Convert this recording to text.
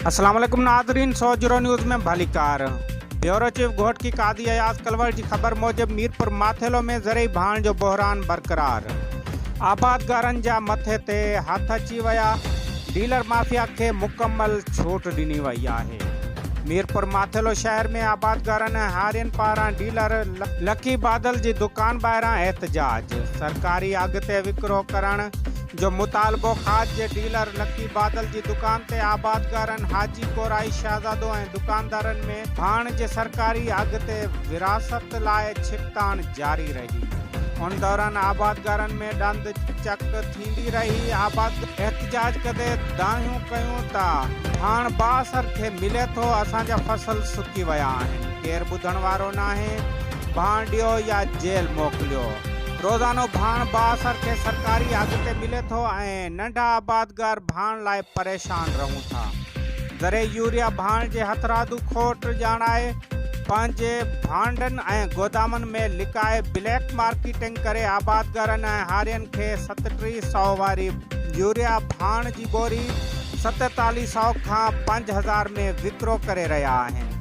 اسلام عليڪم ناظرين سوجهرو نيوز ۾ ڀليڪار بيورو چيف گهوٽڪي قاضي اياز ڪلور جي خبر موجب ميرپور ماٿيلو ۾ زرعي ڀاڻ جو بحران برقرار آبادگارن جا مٿي تي هٿ اچي ويا ڊيلر مافيا کي مڪمل ڇوٽ ڏني وئي آهي ميرپور ماٿيلو شهر ۾ آبادگارن ۽ هارين پاران ڊيلر لڪي بادل جي دڪان ٻاهران احتجاج سرڪاري اگهه تي وڪرو ڪرڻ جو مطالبو کاڄ جي ڊيلر لڪي بادل جي دڪان تي آبادگارن حاجي ڪورائي شهزادو ۽ دڪاندارن ۾ ڀاڻ جي سرڪاري اگهه تي ورهاست لاء ڇڪتاڻ جاري رهي ان دوران آبادگارن ۾ ڏند چڪ ٿيندي رهي آبادگار احتجاج ڪندي دانهيون ڪيون ته ڀاڻ بااثر کي ملي ٿو اسان جا فصل سڪي ويا آهن ڪير ٻڌڻ وارو ناهي. ڀانئڊيو يا جيل موڪليو. روزانو ڀاڻ بااثر کي سرڪاري اگهه تي ملي ٿو ۽ ننڍا آبادگار ڀاڻ لاء پريشان رهون ٿا. ذري يوريا ڀاڻ جي هٿرادو کوٽ ڄاڻائي پنهنجي ڀانڊن ۽ گودامن ۾ لڪائي بليڪ مارڪيٽنگ ڪري آبادگارن ۽ هارين کي ستٽيهه سئو واري يوريا ڀاڻ جي ٻوري ستيتاليهه سئو کان پنج هزار ۾ وڪرو ڪري رهيا آهن.